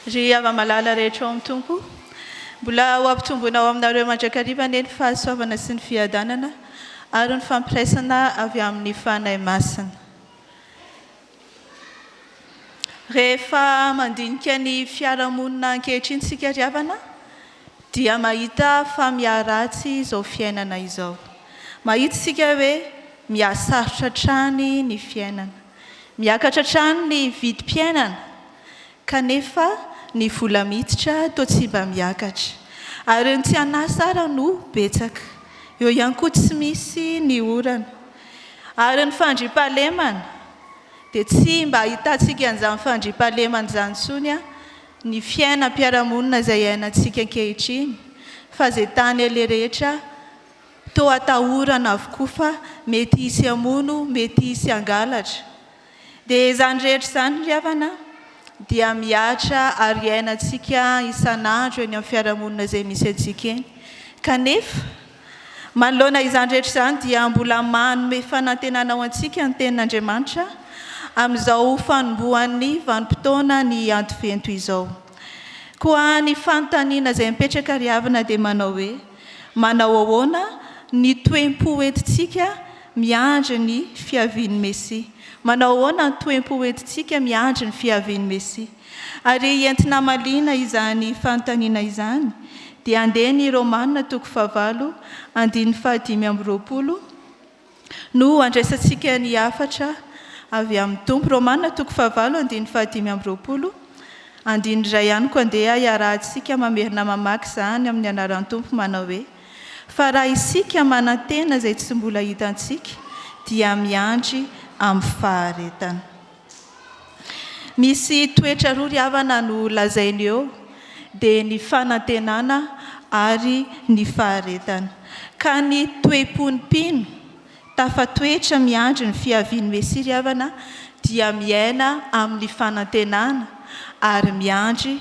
Ry hava-malala rehetra ao amin'ny Tompo, mbola ho ampitomboina ao aminareo mandrakariva anie ny fahasoavana sy ny fiadanana ary ny fampiraisana avy amin'ny Fanahy Masina. Rehefa mandinika ny fiarahamonina ankehitriny isika ry havana dia mahita fa miharatsy izao fiainana izao. Mahita isika hoe mihasarotra hatrany ny fiainana. Miakatra hatrany ny vidim-piainana. Kanefa ny vola miditra toa tsy mba miakatra. Ary ireo tsy an'asa ara no betsaka. Eo ihany koa tsy misy ny orana. Ary ny fandriampahalemana, dia tsy mba ahitantsika an'izany fandriampahalemana izany intsony an, ny fiainam-piarahamonina izay iainantsika ankehitriny, fa izay tany aleha rehetra toa atahorana avokoa fa mety hisy hamono, mety hisy hangalatra. Dia izany rehetra izany ry havana dia mihatra ary iainantsika isan'andro eny amin'ny fiarahamonina izay misy antsika eny. Kanefa, manoloana izany rehetra izany dia mbola manome fanantenana ho antsika ny Tenin'Andriamanitra amin'izao fanombohan'ny vanim-potoana ny Advento izao. Koa ny fanontaniana izay mipetraka ry havana dia manao hoe. Manao ahoana ny toe-po entintsika miandry ny fiavian'ny Mesia? Manao ahoana ny toe-po entintsika miandry ny fiavian'ny Mesia? Ary entina hamaliana izany fanontaniana izany, dia andeha ny Romana toko fahavalo, andininy fahadimy amby roapolo, No andraisantsika ny hafatra avy amin'ny Tompo. Romana toko fahavalo andininy fahadimy amby roapolo, andininy iray ihany koa andeha hiarahantsika mamerina mamaky izany amin'ny anaran'ny Tompo manao hoe, Fa raha isika manantena izay tsy mbola hitantsika dia miandry amin'ny faharetana. Misy toetra roa ry havana no lazainy eo dia ny fanantenana ary ny faharetana. Ka ny toe-pon'ny mpino tafatoetra miandry ny fiavian'ny Mesia ry havana dia miaina amin'ny fanantenana ary miandry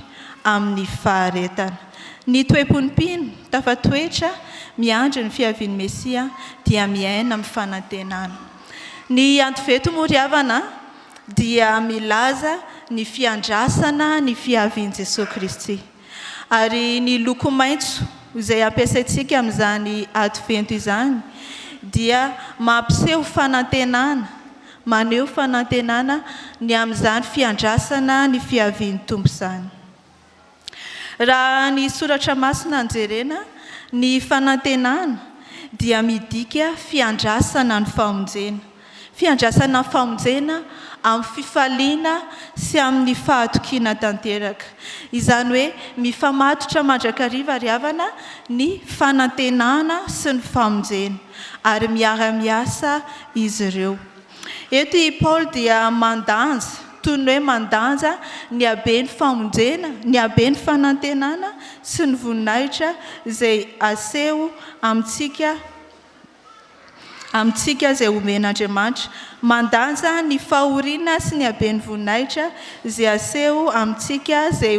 amin'ny faharetana. Ny toe-pon'ny mpino tafatoetra miandry ny fiavian'ny Mesia dia miaina amin'ny fanantenana. Ny Antoveto moa ry havana dia milaza ny fiandrasana ny fiavian'i Jesoa Kristy. Ary ny loko maitso izay ampiasaintsika amin'izany Advento izany dia mampiseho fanantenana, maneho fanantenana ny amin'izany fiandrasana ny fiavian'ny Tompo izany. Raha ny soratra masina no jerena, ny fanantenana dia midika fiandrasana ny famonjena. Fiandrasana ny famonjena amin'ny fifaliana sy amin'ny fahatokiana tanteraka. Izany hoe mifamatotra mandrakariva ry havana ny fanantenana sy ny famonjena ary miara-miasa izy ireo. Eto i Paoly dia mandanja, toy ny hoe mandanja ny haben'ny famonjena, ny haben'ny fanantenana sy ny voninahitra izay aseho amintsika amintsika izay omen'Andriamanitra. Mandanja ny fahoriana sy ny haben'ny voninahitra izay aseho amintsika izay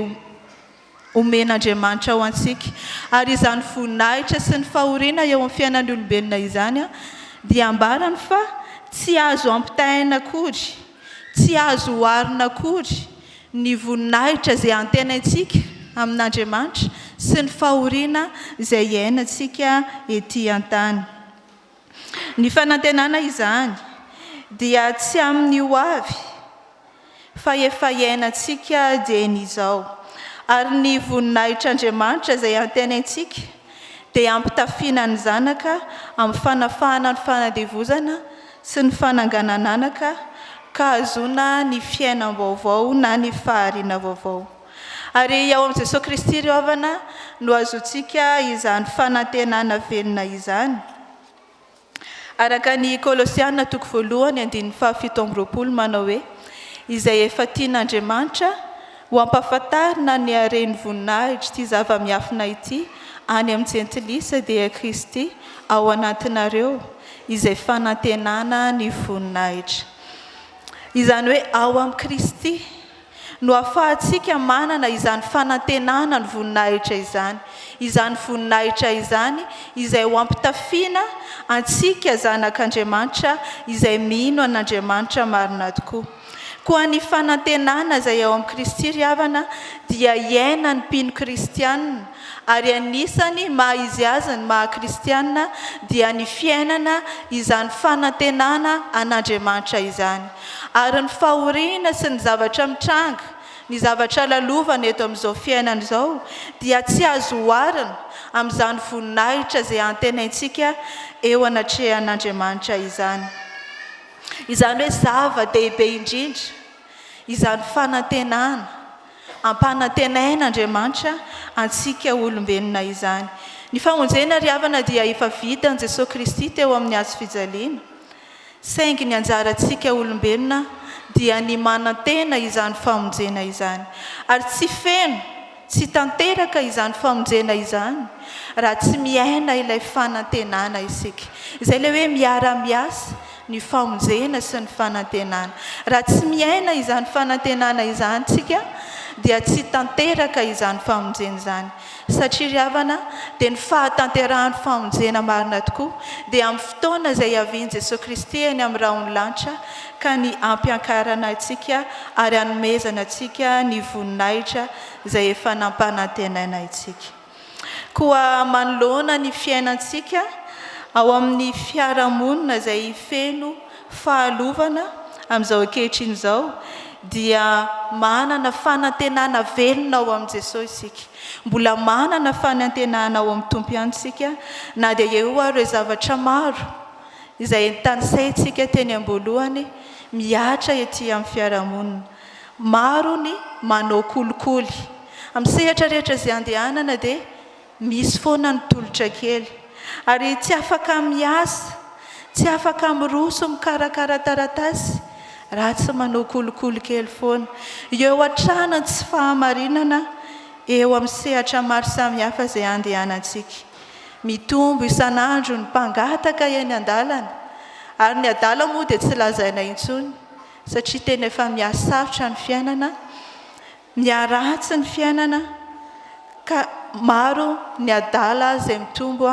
omen'Andriamanitra ho antsika, ary izany voninahitra sy ny fahoriana eo amin'ny fiainan'ny olombelona izany dia ambarany fa tsy azo ampitahaina akory, tsy azo oharina akory ny voninahitra izay antenaintsika amin'Andriamanitra sy ny fahoriana izay iainantsika ety an-tany. Ny fanantenana izany dia tsy amin'ny ho avy fa efa iainantsika dieny izao. Ary ny voninahitr'Andriamanitra izay antenaintsika dia ampitafiana ny zanaka amin'ny fanafahana ny fanandevozana sy ny fananganan'anaka ka hahazoana ny fiainam-baovao na ny fahariana vaovao. Ary ao amin'i Jesoa Kristy ry havana no azontsika izany fanantenana velona izany. Araka ny Kolosiana toko voalohany andininy fahafito amby roapolo manao hoe, Izay efa tian'Andriamanitra ho ampahafantarina ny haren'ny voninahitr'ity zava-miafina ity any amin'ny jentilisa dia Kristy ao anatinareo izay fanantenana ny voninahitra. Izany hoe ao amin'i Kristy. no hahafahantsika manana izany fanantenana ny voninahitra izany, izany voninahitra izany izay ho ampitafiana antsika zanak'Andriamanitra izay mino an'Andriamanitra marina tokoa. Koa ny fanantenana izay ao amin'i Kristy, ry havana, dia iainan'ny mpino kristiana ary anisany maha izy azy ny maha kristiana dia ny fiainana izany fanantenana an'Andriamanitra izany, ary ny fahoriana sy ny zavatra mitranga, ny zavatra lalovana eto amin'izao fiainana izao dia tsy azo oharina amin'izany voninahitra izay antenaintsika eo anatrehan'Andriamanitra izany. Izany hoe zava-dehibe indrindra izany fanantenana Ampanantenaina Andriamanitra antsika olombelona izany. Ny famonjena ry havana dia efa vitan'i Jesoa Kristy teo amin'ny hazo fijaliana, saingy ny anjarantsika olombelona dia ny manantena izany famonjena izany. Ary tsy feno, tsy tanteraka izany famonjena izany raha tsy miaina ilay fanantenana isika. Izay ilay hoe miara-miasa ny famonjena sy ny fanantenana. Raha tsy miaina izany fanantenana izany isika dia tsy tanteraka izany famonjena izany. Satria ry havana dia ny fahatanterahan'ny famonjena marina tokoa dia amin'ny fotoana izay hiavian'i Jesoa Kristy eny amin'ny rahon'ny lanitra ka ny hampiankarana antsika ary hanomezana antsika ny voninahitra izay efa nampanantenaina antsika. Koa manoloana ny fiainantsika ao amin'ny fiarahamonina izay feno fahalovana amin'izao ankehitriny izao dia manana fanantenana velona ao amin'i Jesoa isika. Mbola manana fanantenana ao amin'ny Tompo ihany isika na dia eo ary ireo zavatra maro izay tanisaintsika teny am-boalohany mihatra ety amin'ny fiarahamonina. Maro ny manao kolikoly. Amin'ny sehatra rehetra izay andehanana dia misy foana ny tolotra kely. Ary tsy afaka miasa, tsy afaka miroso mikarakara taratasy raha tsy manao kolikoly kely foana. Eo hatrany ny tsy fahamarinana eo amin'ny sehatra maro samihafa izay andehanantsika. Mitombo isan'andro ny mpangataka eny an-dalana, ary ny adala moa dia tsy lazaina intsony. satria tena efa mihasarotra ny fiainana, miharatsy ny fiainana ka maro ny adala izay mitombo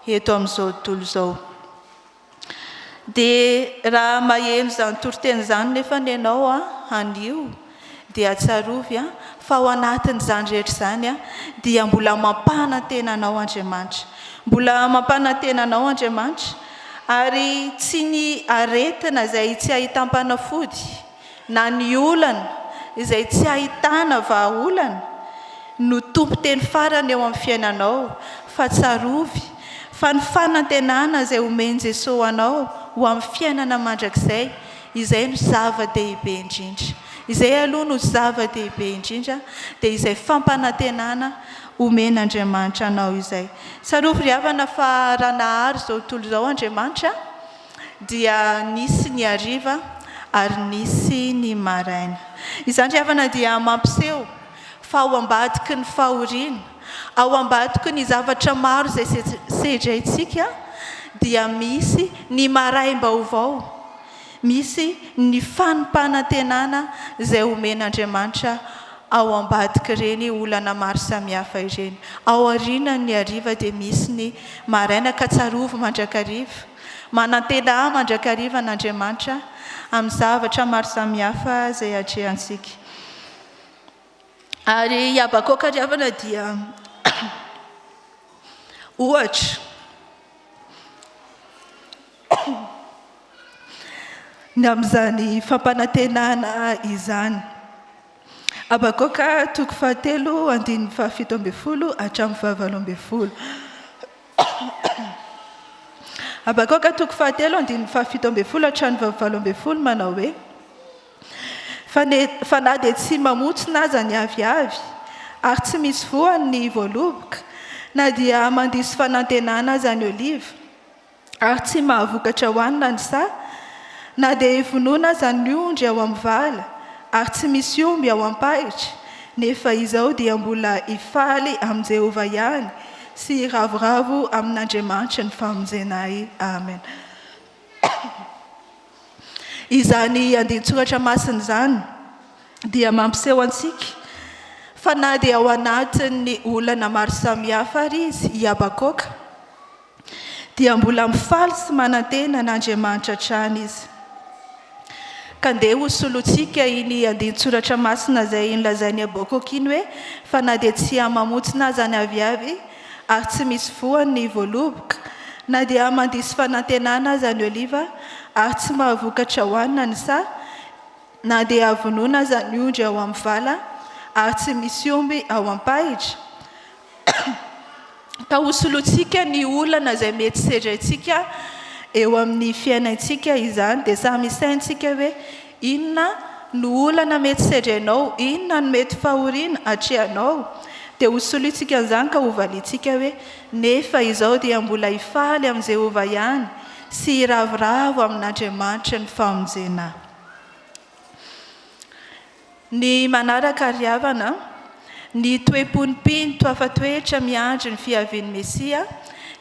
eto amin'izao tontolo izao. Dia raha maheno izany toriteny izany nefany ianao anio Dia tsarovy fa ao anatin'izany rehetra izany dia mbola mampanantena anao Andriamanitra. Mbola mampanantena anao Andriamanitra ary tsy ny aretina izay tsy ahitam-panafody na ny olana izay tsy ahitana vahaolana no tompon-teny farany eo amin'ny fiainanao fa tsarovy fa ny fanantenana izay omen'i Jesoa anao ho amin'ny fiainana mandrakizay Izay no zava-dehibe indrindra. Izay aloha no zava-dehibe indrindra, dia izay fampanantenana omen'Andriamanitra anao izay. Tsarovy ry havana fa raha nahary izao tontolo izao Andriamanitra, dia nisy ny hariva ary nisy ny maraina. Izany ry havana dia mampiseho. Fa ao ambadiky ny fahoriana, ao ambadiky ny zavatra maro izay sedraintsika dia misy ny maraim-baovao, misy ny fanimpanantenana izay omen'Andriamanitra ao ambadik'ireny olana maro samihafa ireny. Ao aorianan'ny hariva dia misy ny maraina ka tsarovy mandrakariva, manantena ahy mandrakariva an'Andriamanitra amin'ny zavatra maro samihafa izay atrehantsika. Ary i Habakoka ry havana dia ohatra. Ny amin'izany fampanantenana izany. Habakoka toko fahatelo andininy fahafito ambin'ny folo hatramin'ny fahavalo ambin'ny folo. Habakoka toko fahatelo andininy fahafito ambin'ny folo hatramin'ny fahavalo ambin'ny folo manao hoe. fa na dia tsy mamotsina aza ny aviavy ary tsy misy voany ny voaloboka, na dia mandiso fanantenana aza ny oliva ary tsy mahavokatra hohanina ny saha, na dia ivonoana aza ny ondry ao amin'ny vala ary tsy misy omby ao am-pahitra, nefa izao dia mbola hifaly amin'i Jehovah ihany sy hiravoravo amin'Andriamanitry ny famonjenay. Amena. Izany andinin-tsoratra masina izany dia mampiseho antsika fa na dia ao anatin'ny olana maro samihafa ary izy i Habakoaka dia mbola mifaly sy manantena an'Andriamanitra hatrany izy. Ka ndeha ho solointsika iny andinin-tsoratra masina izay nolazain'i Habakoaka iny hoe fa na dia tsy hiha-mamontsina aza ny aviavy ary tsy misy voany ny voaloboka, na dia mandiso fanantenana aza ny oliva, ary tsy mahavokatra hohanina ny saha, na dia vonoina aza ny ondry ao amin'ny vala, ary tsy misy omby ao am-pahitra, ka hosolointsika ny olana izay mety sedraintsika eo amin'ny fiainantsika izany, dia samy hisaintsika hoe, Inona no olana mety sedrenao? Inona no mety fahoriana atrehanao? Dia hosolointsika an'izany ka hovaliantsika hoe, Nefa izao dia mbola hifaly amin'i Jehovah ihany sy hiravoravo amin'Andriamanitry ny famonjena. Ny manaraka àry havana, ny toe-pon'ny mpino toafa toetra miandry ny fiavian'ny Mesia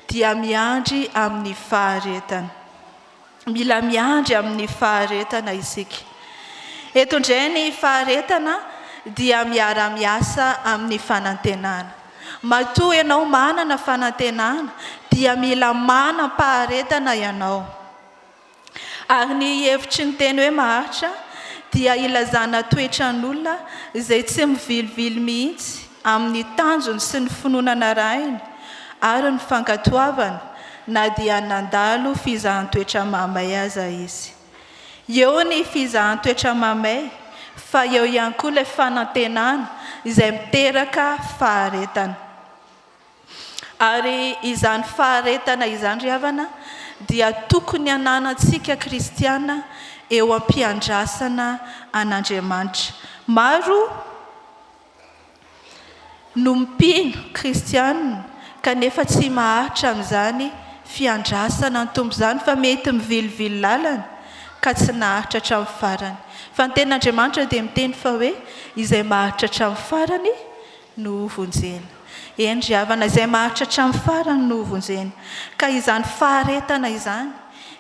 dia miandry amin'ny faharetana. Mila miandry amin'ny faharetana isika. Eto indray ny faharetana dia miara-miasa amin'ny fanantenana. Matoa ianao manana fanantenana dia mila manam-paharetana ianao. Ary ny hevitry ny teny hoe maharitra dia ilazana toetran'olona izay tsy mivilivily mihitsy amin'ny tanjony sy ny finoana narahiny ary ny fankatoavana na dia nandalo fizahan-toetra mamay aza izy. Eo ny fizahan-toetra mamay fa eo ihany koa ilay fanantenana izay miteraka faharetana. Ary izany faharetana izany ry havana dia tokony hananantsika kristiana eo am-piandrasana an'Andriamanitra. Maro. no mpino kristiana kanefa tsy maharitra amin'izany fiandrasana ny Tompo izany fa mety mivilivily lalana ka tsy naharitra hatramin'ny farany. Fa ny tenin'Andriamanitra dia miteny fa hoe izay maharitra hatramin'ny farany no hovonjena. Eny ry havana, izay maharitra hatramin'ny farany no hovonjena. Ka izany faharetana izany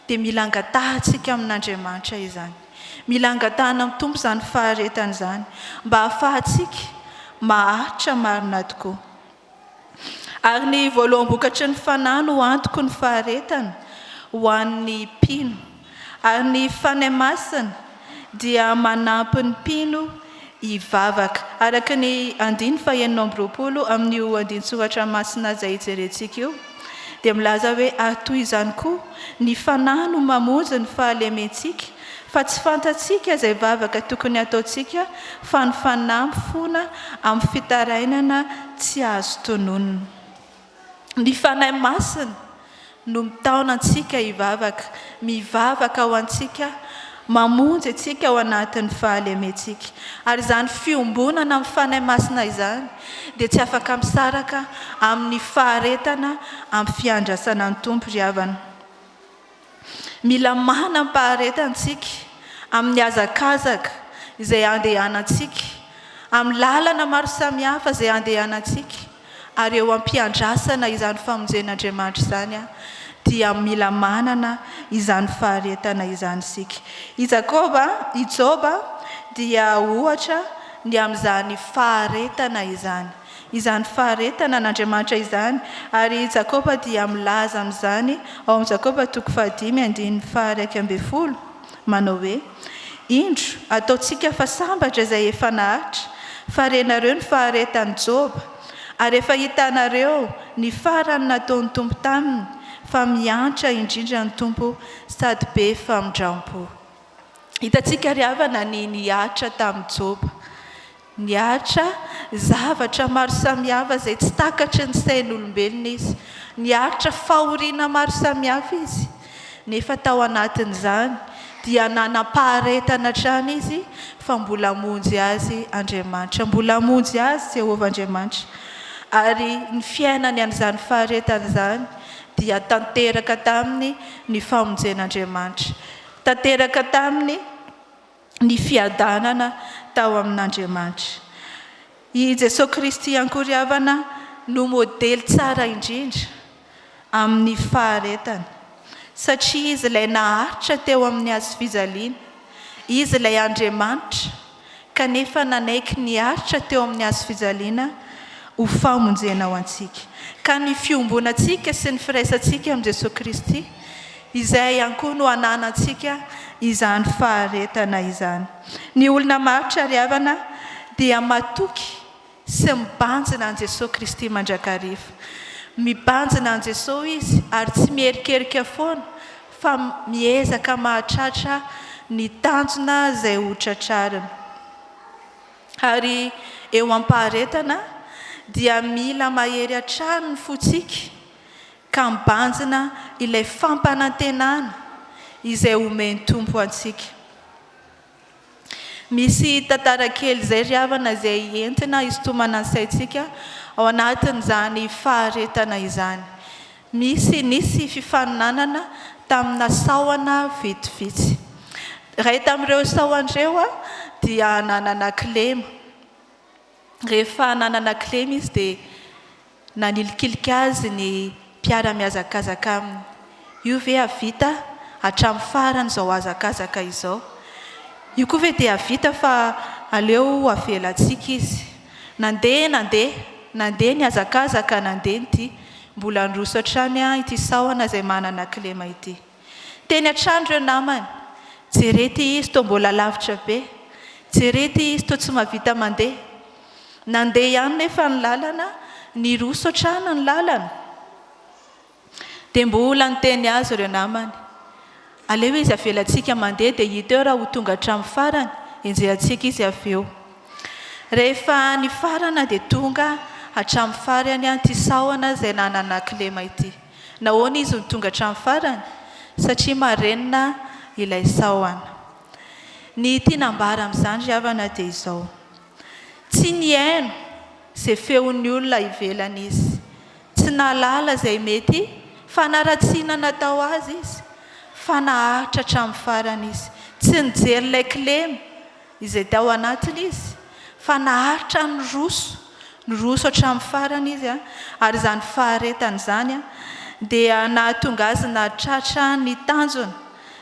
dia mila angatahantsika amin'Andriamanitra izany. Mila angatahana amin'ny Tompo izany faharetana izany mba hahafahantsika maharitra marina tokoa. Ary ny voaloham-bokatry ny fanahy no antoky ny faharetana ho an'ny mpino. Ary ny Fanahy Masina dia manampy ny mpino hivavaka. Araka ny andiny fahenina amby roapolo amin'io andinin-tsoratra masina izay hijerentsika io, dia milaza hoe, Ary toy izany koa, ny fanahy no mamonjy ny fahalementsika, fa tsy fantatsika izay vavaka tokony hataontsika, fa ny fanahy mifona amin'ny fitarainana tsy azo tononina. Ny Fanahy Masina no mitaona antsika hivavaka, mivavaka ho antsika, mamonjy antsika ao anatin'ny fahalementsika. Ary izany fiombonana amin'ny Fanahy Masina izany dia tsy afaka misaraka amin'ny faharetana amin'ny fiandrasana ny Tompo ry havana. Mila manam-paharetana isika amin'ny hazakazaka izay andehanantsika, amin'ny lalana maro samihafa izay andehanantsika, ary eo am-piandrasana izany famonjen'Andriamanitra izany dia mila manana izany faharetana izany isika. I Jakoba, i Joba dia ohatra ny amin'izany faharetana izany. izany faharetana an'Andriamanitra izany, ary i Jakoba dia milaza amin'izany ao amin'ny Jakoba toko fahadimy andininy faha-iraika ambin'ny folo, manao hoe, Indro, ataontsika fa sambatra izay efa nahatra, fa renareo ny faharetan'i Joba, ary efa hitanareo ny farany nataon'ny Tompo taminy, fa mihantra indrindra ny Tompo sady be famindrampo. Hitantsika ry havana ny nihatra tamin'i Joba. Niaritra zavatra maro samihafa izay tsy takatry ny sain'olombelona izy. Niaritra fahoriana maro samihafa izy. Nefa tao anatin'izany dia nanam-paharetana hatrany izy fa mbola hamonjy azy Andriamanitra. Mbola hamonjy azy Jehovah Andriamanitra. Ary ny fiainany an'izany faharetana izany dia tanteraka taminy ny famonjen'Andriamanitra. Tanteraka taminy. ny fiadanana tao amin'Andriamanitra. I Jesoa Kristy ankory havana no modely tsara indrindra amin'ny faharetana, satria Izy ilay naharitra teo amin'ny hazofijaliana, Izy ilay Andriamanitra kanefa nanaiky niaritra teo amin'ny hazofijaliana ho famonjena ho antsika. Ka ny fiombonantsika sy ny firaisantsika amin'i Jesoa Kristy, Izay ihany koa no ananantsika izany faharetana izany. Ny olona maharitra ry havana dia matoky sy mibanjina an'i Jesoa Kristy mandrakariva. Mibanjina an'i Jesoa izy ary tsy miherikerika foana fa miezaka mahatratra ny tanjona izay ho tratrariny. Ary eo am-paharetana dia mila mahery hatrany ny fontsika. ka mibanjina ilay fampanantenana izay omen'ny Tompo antsika. Misy tantara kely izay ry havana izay entina hisintomana ny saintsika ao anatin'izany faharetana izany. Misy nisy fifaninanana tamina sahona vitsivitsy. Iray tamin'ireo sahona ireo dia nanana kilema. Rehefa nanana kilema izy dia nanilikilika azy ny mpiara-mihazakazaka aminy. Io ve hahavita hatramin'ny farany izao hazakazaka izao? Io koa ve dia hahavita fa aleo avelantsika izy? Nandeha, nandeha, nandeha nihazakazaka, nandeha ny dia. Mbola niroso hatrany ity sahona izay manana kilema ity. Teny an-trano ireo namany. Jere ity izy toa mbola lavitra be. Jere ity izy toa tsy mahavita mandeha. Nandeha ihany nefa ny lalana, niroso hatrany ny lalana. Dia mbola niteny azy ireo namany. Aleo izy avelantsika mandeha dia hita eo raha ho tonga hatramin'ny farany, enjehantsika izy avy eo. Rehefa nifarana dia tonga hatramin'ny farany ity sahona izay nanana kilema ity. Nahoana izy no tonga hatramin'ny farany? Satria marenina ilay sahona. Ny tiana ambara amin'izany ry havana dia izao, tsy nihaino izay feon'ny olona ivelany izy, tsy nahalala izay mety fanaratsiana natao azy izy, fa naharitra hatramin'ny farany izy, tsy nijery ilay kilema, Izay tao anatiny izy, fa naharitra niroso, niroso hatramin'ny farany izy, ary izany faharetany izany dia nahatonga azy nahatratra ny tanjona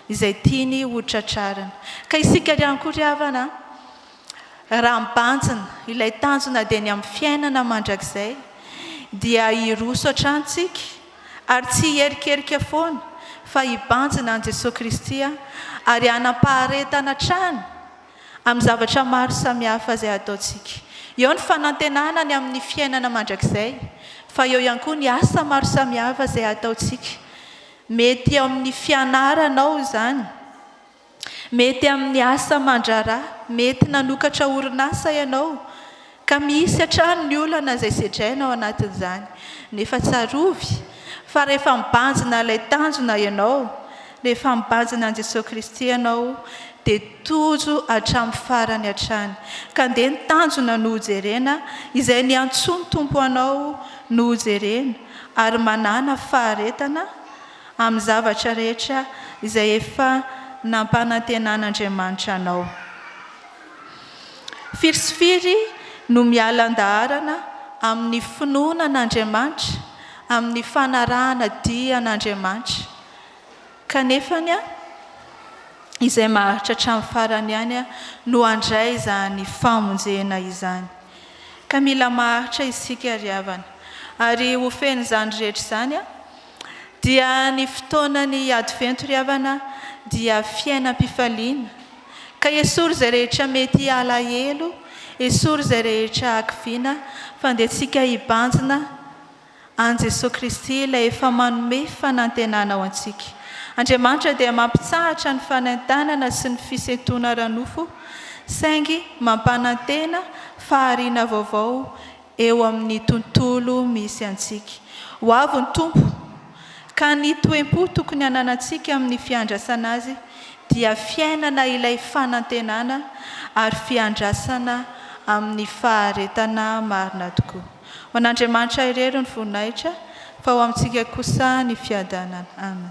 izay tiany ho tratrarina. Ka isika ry ankoho ry havana, raha mibanjina ilay tanjona dia ny amin'ny fiainana mandrakizay, dia hiroso hatrany isika, Ary tsy hierikerika foana fa hibanjina an'i Jesoa Kristy aho ary hanam-paharetana hatrany amin'ny zavatra maro samihafa izay hataontsika. Eo ny fanantenana ny amin'ny fiainana mandrakizay fa eo ihany koa ny asa maro samihafa izay hataontsika. Mety eo amin'ny fianaranao izany. Mety amin'ny asa aman-draharaha, mety nanokatra orinasa ianao, ka misy hatrany ny olana izay sedraina ao anatin'izany. Nefa tsarovy fa rehefa mibanjina ilay tanjona ianao, rehefa mibanjina an'i Jesoa Kristy ianao, dia tojo hatramin'ny farany hatrany. Ka ndeha ny tanjona no hojerena, izay niantsoa ny Tompo anao no hojerena, ary manàna faharetana, amin'ny zavatra rehetra izay efa nampanantenan'Andriamanitra anao. Firy sy firy no miala an-daharana amin'ny finoana an'Andriamanitra, amin'ny fanarahana dihy an'Andriamanitra, kanefa izay maharitra hatramin'ny farany ihany no handray izany famonjena izany. Ka mila maharitra isika ry havana, ary ho fen'izany rehetra izany. dia ny fotoanan'ny Advento ry havana dia fiainam-pifaliana ka esory izay rehetra mety alahelo, esory izay rehetra hakiviana fa andehantsika hibanjina an'i Jesoa Kristy ilay efa manome fanantenana ho antsika. Andriamanitra dia mampitsahatra ny fanaintainana sy ny fisentoana ara-nofo saingy mampanantena fahariana vaovao eo amin'ny tontolo misy antsika. Ho avy ny Tompo, ka ny toe-po tokony hananantsika amin'ny fiandrasana Azy dia fiainana ilay fanantenana ary fiandrasana amin'ny faharetana marina tokoa. Ho an'Andriamanitra irery ny voninahitra, fa ho amintsika kosa ny fiadanana. Amena.